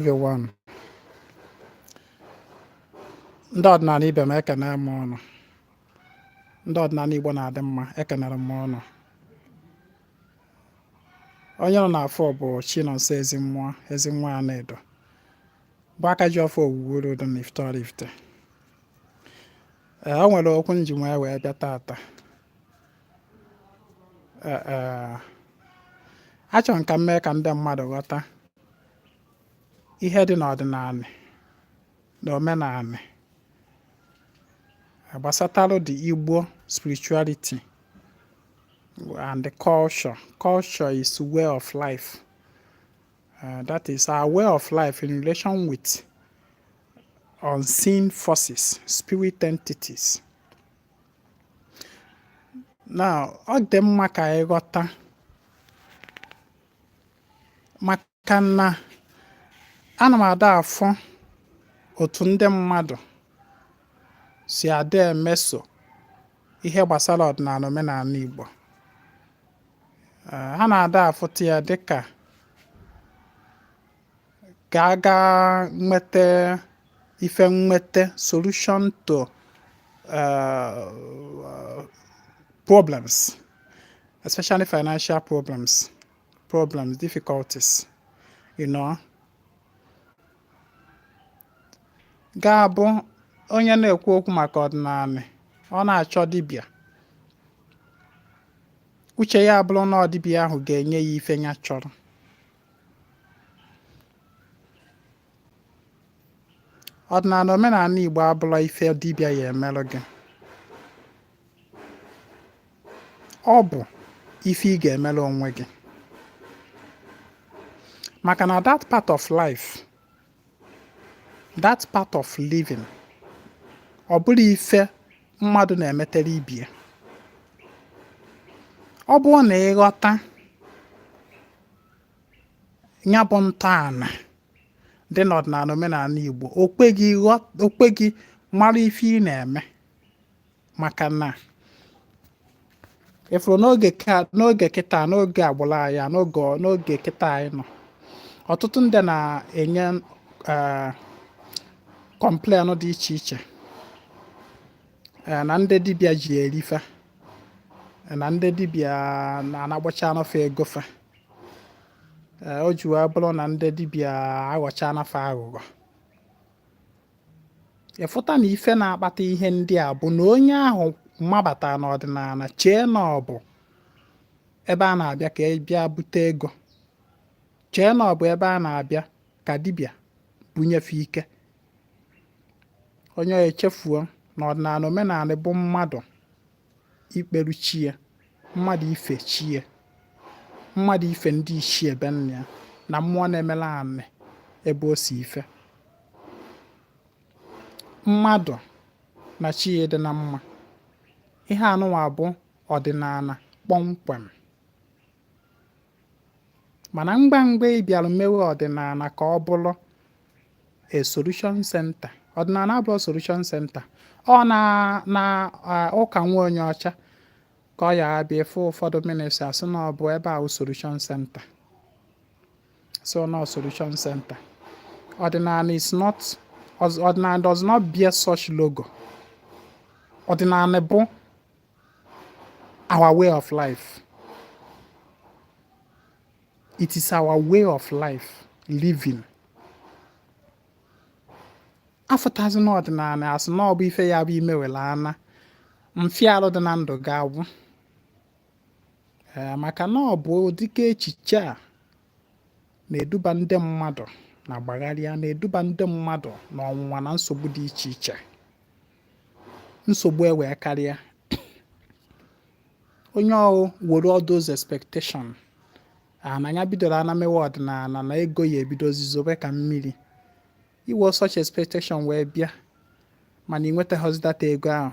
everyone. Ndị ọdịnala ibe m ekene m ụnụ. Ndị ọdịnala Igbo na-adị mma ekenere m ụnụ. Onye ụnụ na-afụ bụ Chinonso Ezinwa Anedo bụ aka ji ọfọ Ogwugwu olu dị n'Ifite Oraifite. Ee, o nwere okwu nji wee wee bịa tata. Ee, ee, achọrọ m ka m mee ka ndị mmadụ ghọta ihe dị n'ọdịnala na omenala gbasatarụ the Igbo spirituality and the culture. Culture is way of life. Uh, that is our way of life in relation with unseen forces, spirit entities. Now, ọ dị mma ka anyị ghọta maka na ana m ada afụ otu ndị mmadụ si ada emeso ihe gbasara ọdịnala omenala Igbo ha na-ada afụta ya dịka ka a ga nweta ife nweta solution to uh, problems especially financial problems problems difficulties you know ga-abụ onye na-ekwu okwu maka ọdịnala ọ na-achọ dibịa uche ya abụrụ na ọ dibịa ahụ ga-enye ya ife ya chọrọ ọdịnala omenala Igbo abụrọ ife dibịa ya emerụ gị ọ bụ ife ị ga-emere onwe gị maka na that part of life that part of living ọ bụrọ ife mmadụ na-emetere ibie ọ bụrụ na ị ghọta ya bụ ntọala dị n'ọdịnala omenala Igbo okpe gị mara ife ị na-eme maka na ị fụrụ n'oge kịta n'oge agbụrụ anyị n'oge kịta anyị nọ ọtụtụ ndị na-enye complain eh, dị iche iche eh, na ndị dibịa ji eri fa eh, na ndị dibịa na-anagbachana fa ego fa eh, o ji wee bụrụ na ndị dibịa aghọchana fa aghụghọ ị fụta na ife na-akpata ihe ndị a bụ na onye ahụ mabata n'ọdịnala chee na ọ bụ ebe a na-abịa ka a bịa bute ego chee na ọ bụ ebe a na-abịa ka dibịa bunye fa ike onye ahụ echefuo na ọdịnala omenala bụ mmadụ ikperu chi ya mmadụ ife chi ya mmadụ ife ndị ichie be nna ya na mmụọ na-emela anị ebe o si ife mmadụ na chi ya dị na mma ihe anụwa bụ ọdịnala kpọmkwem mana mgbe mgbe ị bịara mewe ọdịnala ka ọ bụrụ a solution center ọdịnala abụrọ solution center ọ na na ụka nwa onye ọcha ka ọ ya abịa afụ ụfọdụ ministry a sị na ọ bụ ebe ahụ solution center so no solution center ọdịnala is not ọdịnala does not bear such logo ọdịnala bụ our way of life. It is our way of life living. a fụtazi n'ọdịnala a sị na ọ bụ ife ya bụ i mewela ana mfịarụ dị na ndụ gị agwụ ee maka na ọ bụ dịka echiche a na-eduba ndị mmadụ na gbagharịa na-eduba ndị mmadụ na ọnwụnwa na nsogbu dị iche iche nsogbu ewee karịa onye ahụ were all those expectation na ya bidoro ana mewe ọdịnala na ego ya ebidozi zobe ka mmiri i were such expectation wee bịa mana ị nwetaghọzi that ego ahụ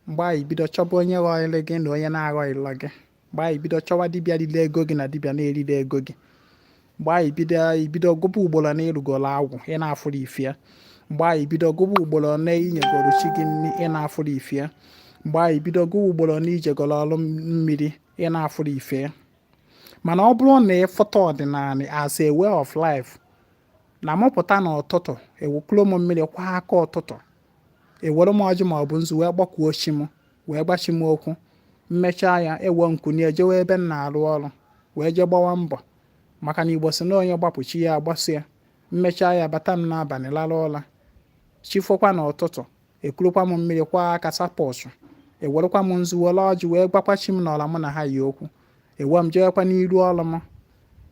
mgbe ahụ ị bido chọba onye ghọrịrị gị na onye na-aghọrịrọ gị mgbe ahụ ị bido chọwa dibịa riri ego gị na dibịa na-erirọ ego gị mgbe ahụ ị bido ị bido gụba ugboro one ị rụgoro agwụ ị na-afụrọ ife ya mgbe ahụ ị bido gụba ugboro one i nyegoro chi gị nri ị na-afụrọ ife ya mgbe ahụ ị bido gụwa ugboro one i jegoro ọrụ mmiri ị na-afụrọ ife ya mana ọ bụrụ na ị fụta ọdịnala as a way of life na m pụta na ụtụtụ ekuru m mmiri kwọ aka ụtụtụ ewere m ọjị maọbụ nzu wee kpọkuo chi m wee gwa chi m okwu m mechaa ya ewee m kunie jewe ebe m na-arụ ọrụ wee jee gbawa mbọ maka na igbo si na onye gbapụ chi ya agbaso ya m mechaa ya bata m n'abalị lara ụra chi fokwa na ụtụtụ ekurukwa m mmiri kwọ aka sapọsụ ewerekwa m nzu were ọjị wee gwakwa chi m na ọra mụ na ha yi okwu ewee m jewekwa n'ịrụ ọrụ m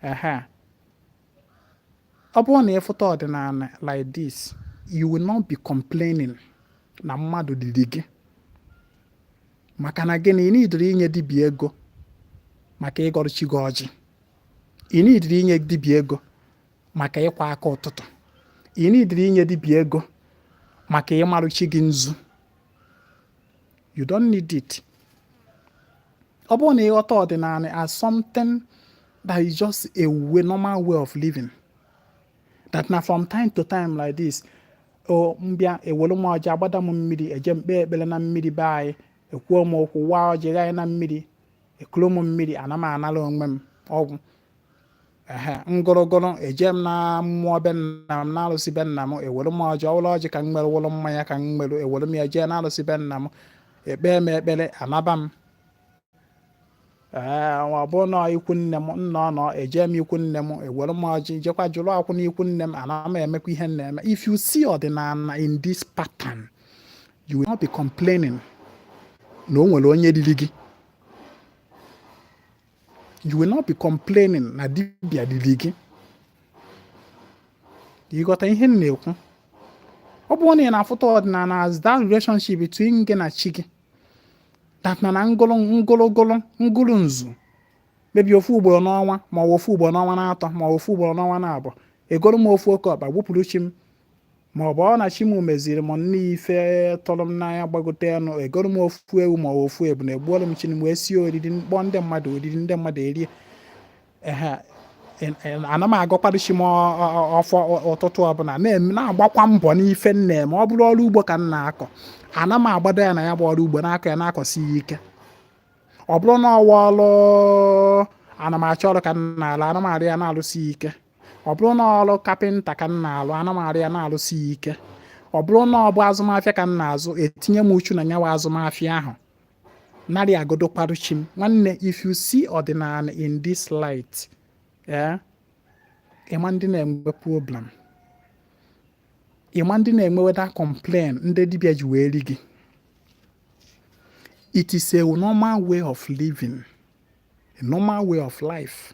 ehe ọ bụrụ na ị fụta ọdịnala like this you will not be complaining na mmadụ riri gị maka na gịnị ị needirọ inye dibịa ego maka ịgọrọ chi gị ọjị ị needirọ inye dibịa ego maka ịkwọ aka ụtụtụ ị needirọ inye dibịa ego maka ịmarụ chi gị nzu you don't need it ọ bụrụ na ị ghọta ọdịnala as something that is just a way normal way of living that na from time to time like this o m bịa ewere m ọjị agbada m mmiri eje m kpee ekpere na mmiri be anyị ekwuo m okwu waa ọjị ghanye na mmiri ekuru m mmiri ana m anara onwe m ọ gwụ ehe ngụrụgụrụ eje m na mmụọ be nna m n'alụsị be nna m ewere m ọjị ọ wụrụ ọjị ka m nwere ọ wụrụ mmanya ka m nwere ewere m ya jee n'alụsị be nna m ekpee m ekpere anaba m ee ọ bụ na ikwu nne m nna ọ nọ eje m ikwu nne m ewere m ọjị jekwa jụrụ agwụ na ikwu nne m ana m emekwa ihe m na-eme if you see ọdịnala in this pattern you will not be complaining na o nwere onye riri gị you will not be complaining na dibịa riri gị ị ghọta ihe m na-ekwu ọ bụrụ na ị na-afụta ọdịnala as that relationship between gị na chi gị that na na ngụlụ ngụlụgụlụ ngụlụ nzu maybe ofu ugboro n'ọnwa ma ọ bụ ofu ugboro n'ọnwa naatọ ma ọ bụ ofu ugboro n'ọnwa naabọ egoro m ofu oke ọkpa gbupụrụ chi m ma ọ bụrụ na chi m meziri m nne ife tụrụ m n'anya gbagote enu egoro m ofu ewu ma ofu ebunu egbuoro m chi m wee sie oriri kpọọ ndị mmadụ oriri ndị mmadụ erie ana m agọkwado chi m ọfọ ụtụtụ ọbụla na-agbakwa mbọ n'ife m na-eme ọ bụrụ ọrụ ugbo ka m na-akọ ana m agbado anya na ya bụ ọrụ ugbo na-akọ ya na-akọsi ya ike ọ bụrụ na ọ wụ ọrụ ana m achọ ọrụ ka m na-alụ ana m arụ ya na-alụsi ike ọ bụrụ na ọrụ kapịnta ka m na-alụ ana m arụ ya na-alụsi ya ike ọ bụrụ na ọ bụ azụmahịa ka m na-azụ etinye m uchu na nya wụ azụmahịa ahụ na-arị agọdokwarụ chi m nwanne if you see ọdịnala in this light ee eh, ịma ndị na-enwe problem ịma ndị na-ewe iwe da complain ndị dibịa ji wee ri gị it is a normal way of living a normal way of life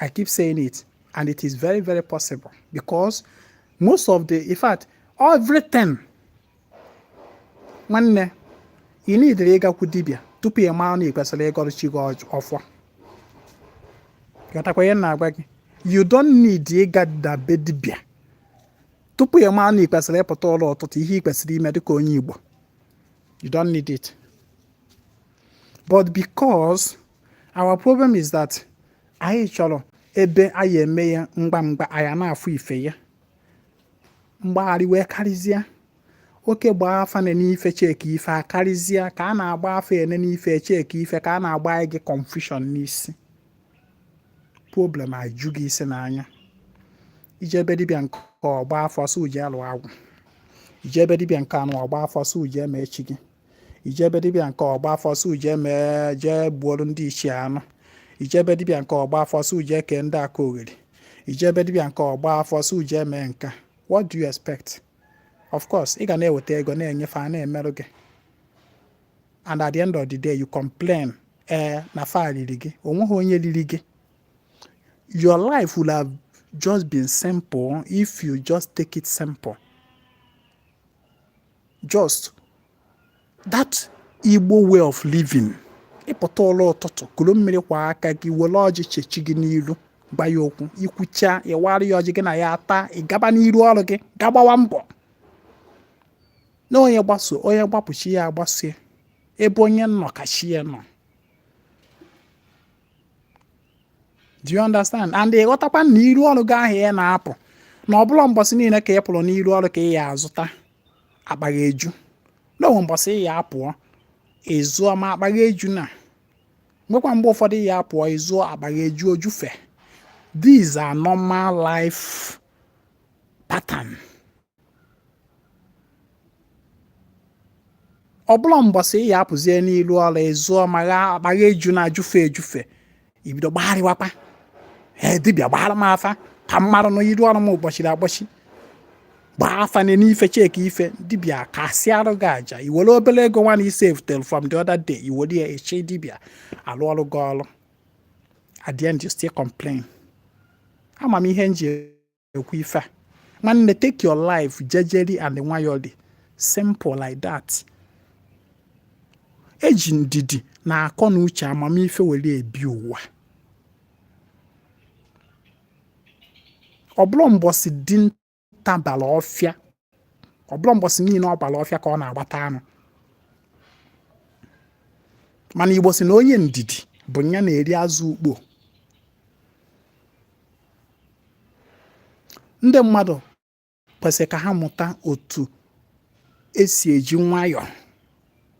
I keep saying it, and it is very, very possible because most of the, in fact, everything, nwanne, ị needirọ ịgakwu dibịa tupu ị mara na ị kwesịrị ịgọrọ chi gị ọfọ. Ghọtakwa ihe m na-agwa gị, you don't need ịgada be dibịa tupu ị mara na ị kwesịrị ịpụta ụla ụtụtụ ihe ị kwesịrị ime dịka onye Igbo. You don't need it. But because our problem is that anyị chọrọ ebe a ya eme ya mgba mgba a ya na-afụ ife ya mgbagharị wee karịzịa oke gbaa afa na n'ife cheki ife a karịzịa ka a na-agba afa ene ife cheki ife ka a na-agbanye gị confusion n'isi problem eju gị isi n'anya i jee be dibịa nke a ọ gbaa afa sị jee lụọ agwụ i jee be dibịa nke anụ ọ gbaa afa sị jee mee chi gị i jee be dibịa nke a ọ gbaa afa sị jee mee jee gbuoro ndị ichie anụ i jee be dibịa nke a ọ gbaa afa sị jee kee ndị akalogheri i jee be dibịa nke a ọ gbaa afa sị jee mee nke a what do you expect of course ị ga na-eweta ego na-enye fa a na-emerụ gị and at the end of the day you complain ee eh, na fa riri gị o nweghị onye riri gị your life would have just been simple if you just take it simple just that igbo way of living ị pụta ụla ụtụtụ kuru mmiri kwọọ aka gị were ọjị chee chi gị n'iru gwa ya okwu i kwuchaa ị wara ya ọjị gị na ya ataa ị gaba n'iru ọrụ gị ga gbawa mbọ na onye gbaso onye gbapụ chi ya agbaso ya ebe onye nọ ka chi ya nọ do you understand and ị ghọtakwa na iru ọrụ gị ahụ ị na-apụ na ọ bụla mbọsị niile ka ị pụrụ n'iru ọrụ ka ị ya azụta akpa gị eju na o nwee mbọsị ị ya apụ ị zụọ ma akpa gị ejuna nwekwa mgbe ụfọdụ ị ya apụ ị zụọ akpa gị eju o jufee these are normal life pattern ọ bụla mbọsị ị ya apụzie n'ilu ọrụ ị zụọ ma akpa gị ejuna ejufe ejufe i bido gbagharịwakwa ee dibịa gbaara m afa ka m mara na iru ọrụ m gbochiri agbochi gbaa afa nee ife cheki ife dibịa kasịarụ gị aja i were obere ego nwa na i savetere from the other day i were ya chee dibịa alụọrụ gị ọrụ at the end you still complain ama m ihe m ji ekwu ife a nwanne take your life jejeri and nwayọli simple like that e ji ndidi na akọ na uche amamife were ebi ụwa ọ bụrọ mbọsị dinta bara ọfịa ọ bụla mbọsị niile ọ bara ọfịa ka ọ na-agbata anụ mana igbo sị na onye ndidi bụ ya na-eri azụ ukpo ndị mmadụ kwesịrị ka ha mụta otu e si eji nwayọọ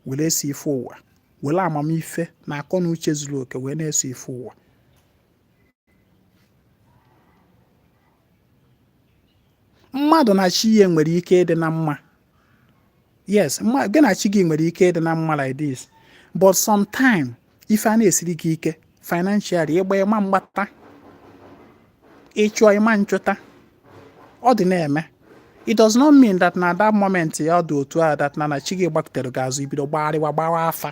were eso ife ụwa were amamife na akọ na uche zuru oke wee na-eso ife ụwa mmadụ na chi ya nwere ike ịdị na mma yes gị na chi gị nwere ike ịdị na mma like this but sometime ife ana-esiri gị ike financially ị gbaa ị ma mgbata ị chụọ ị ma nchụta ọ dị na-eme it does not mean that na that moment ya ọ dị otu a that na na chi gị gbakutere gị azụ i bido gbagharịwa gbawa afa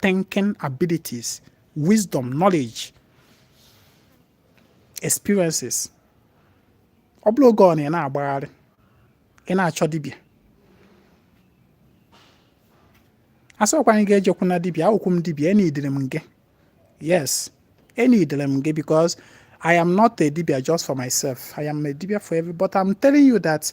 thinking abilities, wisdom, knowledge, experiences. Ọ bụrọ oge ọ bụna ị na-agbagharị, ị na-achọ dibịa. Asịrọkwa m gị ejekwuna dibịa, abụkwa m dibịa, enidere m gị. Yes, enidere m gị because I am not a dibịa just for myself. I am a dibịa for everybody. But I'm telling you that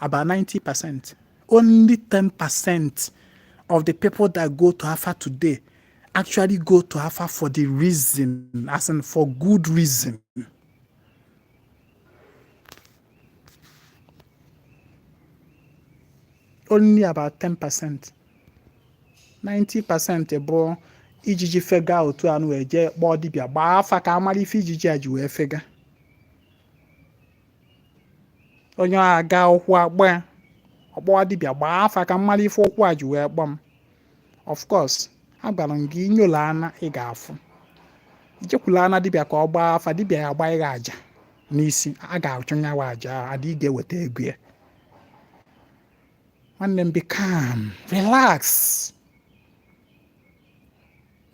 about 90 percent only 10 percent of the people that go to Afa today actually go to Afa for the reason, as in for good reason. Only about 10 percent. 90 percent bụ ijiji fega otu a ụnụ ejee kpọọ dibịa gbaa afa ka a mara ife ijiji a ji wee fega onye aga ụkwụ akpọọ ya ọ kpọwa dibịa gbaa afa ka m mara ife ụkwụ a ji wee kpọọ m of course agwara m gị i nyola ana ị ga-afụ i jekwula na dibịa ka ọ gbaa afa dibịa ya gbaa ị ga aja n'isi a ga-achụ nyawa aja adị ị ga-eweta ego ya nwanne m be calm relax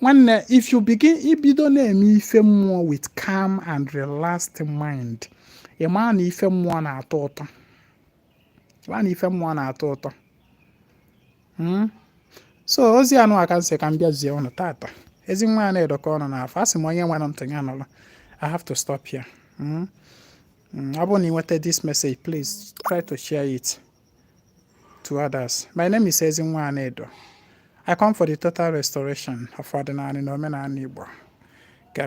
nwanne if you begin i bido na-eme ife mmụọ with calm and relaxed mind ị maa na ife mmụọ na-atọ ụtọ maa na ife mmụọ na-atọ ụtọ hmm? so ozi a nụwa ka m sị ka m bịa zie ụnụ tata Ezinwa Anedo ka ụnụ na-afụ asị m onye nwere ntị ya nụrụ I have to stop here hmm? Hmm, ọ bụrụ na ị nweta this message please try to share it to others. My name is Ezinwa Anedo. I come for the total restoration of ọdịnana na omenana Igbo. Ka